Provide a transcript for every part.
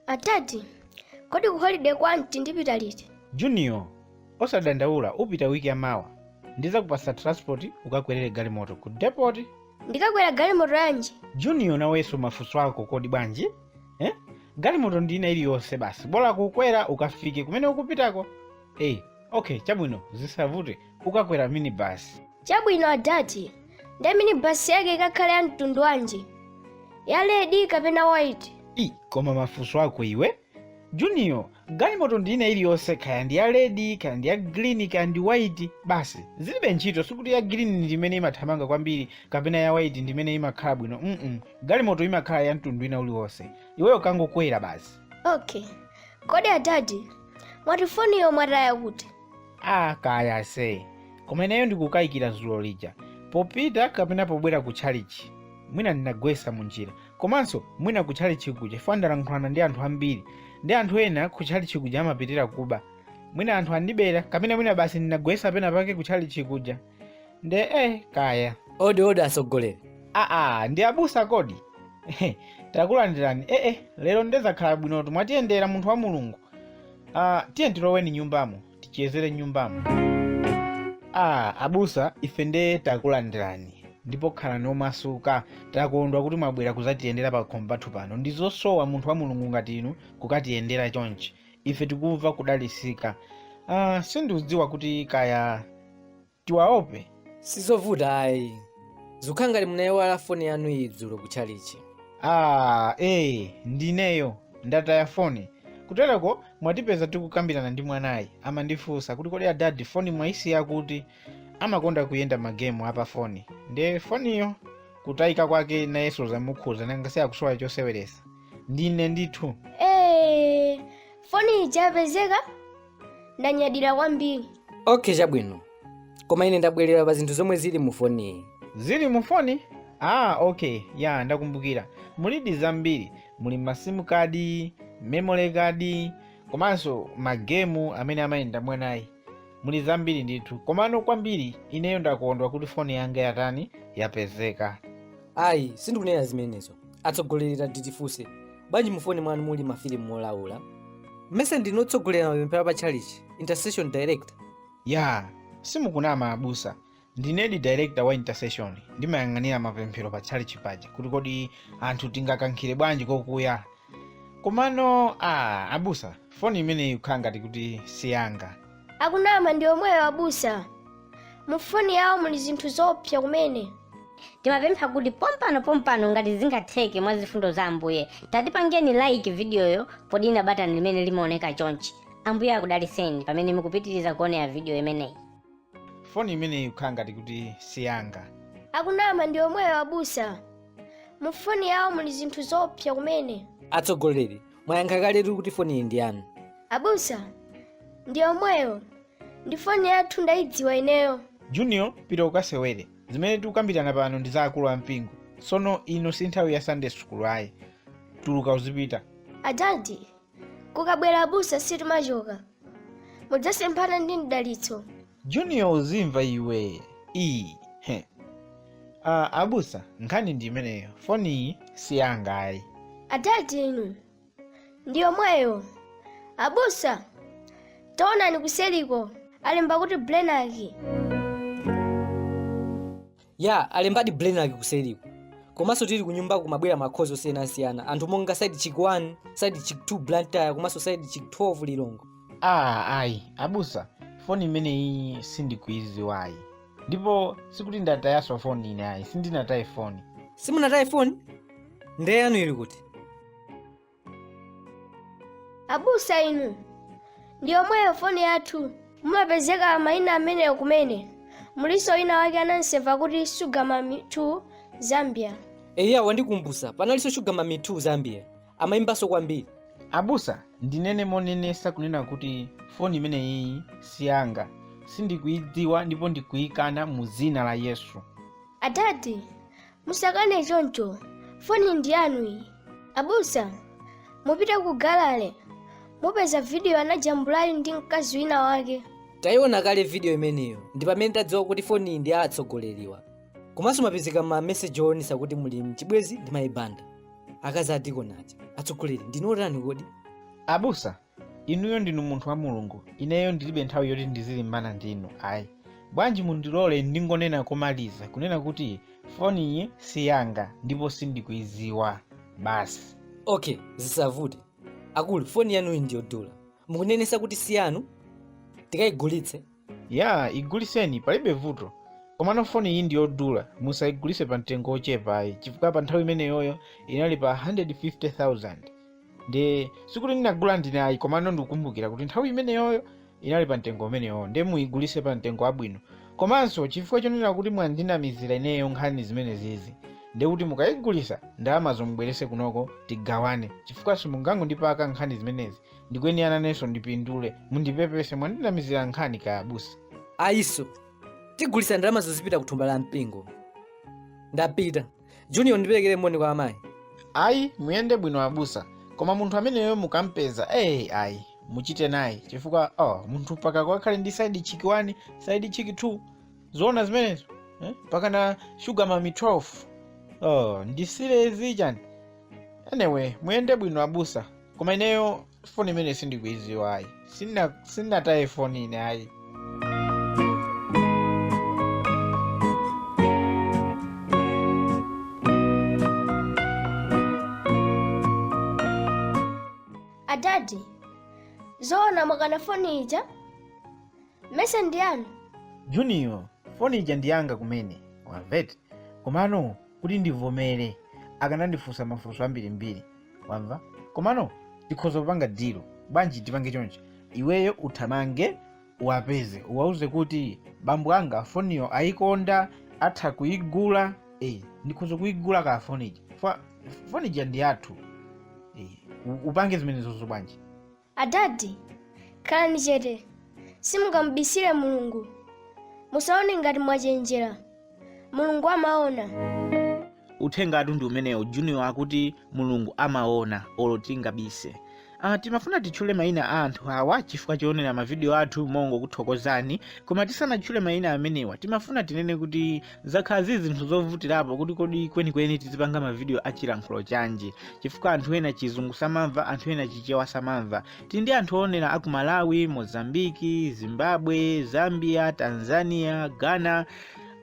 adadi kodi ku holiday kwa aunt ndipita liti junior osadandaula upita wiki ya mawa ndizakupasa transport ukakwerere galimoto ku depot ndikakwera galimoto yanji junior nawenso mafunso ako kodi bwanji eh? galimoto ndi ina iliyonse basi bola kukwera ukafike kumene ukupitako eh, okay chabwino zisavute ukakwera minibasi chabwino adadi nde minibasi yake ikakhale ya mtundu wanji ya red kapena white koma mafunso ako iwe junior galimoto ndi ina iliyonse kaya ndi ya red kaya ndi ya green kaya ndi white basi zilibe ntchito sikuti ya green ndi imene imathamanga kwambiri kapena ya white ndi imene imakhala bwino mm galimoto imakhala ya mtundu ina uliwonse iweyo kangokwera basi okay kodi adadi mwati foniyo mwataya kuti a kaya ase koma ineyo ndikukayikira dzulo lija popita kapena pobwera ku tchalichi mwina ndinagwesa mu njira Komanso mwina kutchalitchi kuja chifukwa ndalankhulana ndi anthu ambiri ndi anthu ena kutchalitchi kuja amapitira kuba mwina anthu andibera kapena mwina basi ndinagwesa pena pake kutchalitchi kuja nde eh kaya odi odi atsogoleri aa ndi abusa kodi takulandirani ee eh, eh, lero nde zakhala bwinotu mwatiyendera munthu wa mulungu uh, ah, tiye tiloweni nyumbamo tichezere nyumbamo ah abusa ife nde takulandirani ndipo khalani omasuka takondwa kuti mwabwera kuzatiyendera pakhomo pathu pano ndi zosowa munthu wa mulungu ngati inu kukatiyendera chonchi ife tikumva kudalisika ah, sindikudziwa kuti kaya tiwope? Sizovuta ayi. Zikukhala ngati munaiwala foni yanu iyi dzulo ku tchalichi. Ah, ee, ndineyo. Ndataya foni. Kutereko mwatipeza tikukambirana ndi mwanayu. Amandifunsa kuti kodi adadi foni mwaisiya kuti amakonda kuyenda magemu a pa foni. Nde foniyo kutayika kwake nayenso zamukhuza nanga si akusowa choseweresa. Ndine ndithu. Eee, foni ija yapezeka? ndanyadira kwambiri okay chabwino koma ine ndabwerera pa zinthu zomwe zili mu foniyi zili mu foni ah okay ya ndakumbukira mulidi zambiri muli masimukadi memory kadi komanso magemu amene amayenda mwanayu muli zambiri ndithu komano kwambiri ineyo ndakondwa kuti foni yanga yatani yapezeka ayi sindikunena zimenezo atsogoleri tatitifunse bwanji mufoni mwanu muli mafilimu olaula mmesa ndinu otsogolera mapemphero pa tchalitchi intercession director aya simukunama abusa ndinedi director wa intercession ndimayang'anira mapemphero pa tchalitchi paja kuti kodi anthu tingakankhire bwanji kokuya komano a abusa foni imeneyi ikukhala ngati kuti siyanga akunama ndi omweyo abusa mufoni yawo muli zinthu zoopsa kumene tikupempha kuti pompano pompano ngati zingatheke mwa zifundo za ambuye tatipangeni like vidiyoyo podina batani limene limaoneka chonchi ambuye akudaliseni pamene mukupitiriza kuonera vidiyo imeneyi foni imeneyi ikukhala ngati kuti siyanga akunama ndi omweyo abusa mufoni yawo muli zinthu zoopsa kumene atsogoleri mwayankha kaletu eti kuti foniyi ndi yanu abusa ndi omweyo ndi foni yathu ndayidziwa ineyo junior pita ukasewere zimene tikukambirana pano ndi za akulu a mpingo tsono ino si nthawi ya sunday school ayi tuluka uzipita adadi kukabwera abusa situmachoka mudzasemphana ndi mdalitso junior uzimva iwe iyi he Ah, abusa nkhani ndi imeneyo foniyi si yanga ayi adadi inu ndi yomweyo abusa taonani kuseliko alemba kuti blenaki ya alembadi blenaki kuseliku komanso tili kunyumbaku kumabwera makhozi osiyanasiyana anthu monga side chick 1 side chick 2 blantyre komanso side chick 12 lilongwe ah ayi abusa foni imeneyi sindikuiziwa ayi ndipo sikuti ndatayaso foni ine ayi sindinataye foni simunataye foni nde yanu ili kuti abusa inu ndi yomweyo foni yathu mumapezeka mayina ameneyo kumene muliso wina wake anamuseva kuti sugar mami 2 zambia eya wandikumbusa panalinso shuga mami 2 zambia amayimbaso kwambiri abusa ndinene monenetsa kunena kuti foni imeneyi siyanga sindikuyidziwa ndipo ndikuyikana mu dzina la yesu adadi musakane choncho foni ndi yanu iyi abusa mupite ku gallery mupeza vidiyo anajambula ali ndi mkazi wina wake tayiona kale vidiyo imeneyo ndi pamene tadziwa kuti foniyi ndi ya atsogoleriwa komanso mwapezeka ma meseji oonesa kuti muli mchibwezi ndi mayi banda akazi a dikoni aja atsogoleri ndinu otani kodi abusa inuyo ndinu munthu wa mulungu ineyo ndilibe nthawi yoti ndizilimbana ndi inu ayi bwanji mundilole ndingonena komaliza kunena kuti foniyi si yanga ndipo sindikuiziwa basi okay zisavute akulu foni yanuyi ndiyodula mukunenesa kuti si yanu tikayigulitse ya iguliseni palibe vuto komano foni iyi ndiyodula musayigulise pa mtengo ochepa ayi chifukwa pa nthawi imeneyoyo inali pa 150000 ndi sikuti ndinagula ndine ayi komano ndikukumbukira kuti nthawi imeneyoyo inali pa mtengo umeneyowo ndi muyigulise pa mtengo wabwino komanso chifukwa chonena kuti mwandinamizira ineyo nkhani zimenezizi ndikuti mukayigulisa ndalamazo mubwerese kunoko tigawane chifukwa simungangondipaka nkhani zimenezi ndikuyenera nanenso ndipindule mundipepese mwandinamizira nkhani kaya abusa ayiso tigulisa ndalamazo zipita kuthumba la mpingo ndapita junior ndiperekere moni kwa amayi ayi muyende bwino abusa koma munthu ameneyo mukampeza eyi ayi muchite naye chifukwa oh, munthu mpaka kukhala ndi saidi chiki 1 saidi chiki 2 zoona zimenezo eh? mpaka na shuga mami 12 oh, ndisirezi chani anyway muyende bwino abusa koma ineyo foni imene sindikuiziwa ayi Sindina- sinataye foni ine ayi adadi zoona mwakana foni ija mese ndi yanu junior foni ija ndiyanga kumene wamvete komano kuti ndivomere akanandifunsa mafunso ambirimbiri wamva komano tikhoza kupanga dilo bwanji tipange chonchi iweyo uthamange uwapeze uwauze kuti bambo anga foniyo ayikonda atha kuyigula eh, ndikhoza kuyigula ka fonija Fo- fonija ndi yathu eh, u- upange zimenezozo bwanji Adadi, khalani chete, simungamubisire Mulungu. Musaone ngati mwachenjera, Mulungu amaona. uthengatu ndi umenewo junior akuti mulungu amaona olo tingabise Uh, timafuna titchule mayina a anthu awa chifukwa choonera mavidiyo athu mongo kuthokozani koma tisanatchule mayina amenewa timafuna tinene kuti zakhala zili zinthu zovutirapo kuti kodi kwenikweni tizipanga mavidiyo a chilankhulo chanji chifukwa anthu ena chizungu samamva anthu ena chichewa samamva tili ndi anthu oonera aku malawi mozambiki zimbabwe zambia tanzania ghana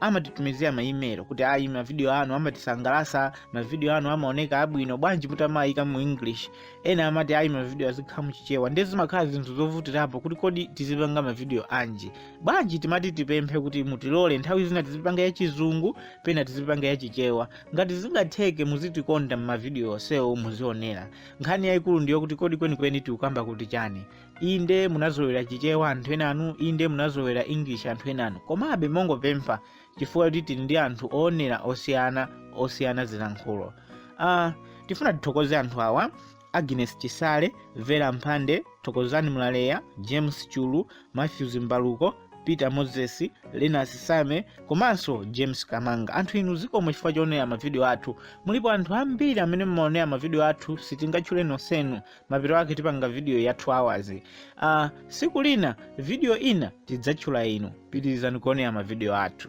amatitumizira maimelo kuti ayi mavidiyo anu amatisangalasa mavidiyo anu amaoneka abwino bwanji mutamaayika mu english ena amati ayi mavidiyo azikhala muchichewa ndiye zimakhala zinthu zovutirapo kuti kodi tizipanga mavidiyo anji bwanji timati tipemphe kuti mutilole nthawi zina tizipanga yachizungu pena tizipanga yachichewa ngati zingatheke muzitikonda m'mavidiyo onsewo muzionera nkhani yayikulu ndi yokuti kodi kwenikweni tikukamba kuti chani inde munazolowera chichewa anthu enanu inde munazolowera english anthu enanu komabe mongopempha chifukwa choti tili ndi anthu oonera osiyana osiyana zilankhulo uh, tifuna tithokoze anthu awa Agnes Chisale, Vera Mphande, Thokozani Mlaleya, James Chulu, Matthews Mbaluko, Peter Moses, Linus Same komanso James Kamanga. Anthu inu zikomo chifukwa choonera mavidiyo athu. Mulipo anthu ambiri amene mumaonera mavidiyo athu sitingatchule nonsenu. Mapeto ake tipanga vidiyo ya 2 hours. Uh, siku lina vidiyo ina tidzatchula inu. Pitirizani kuonera mavidiyo athu.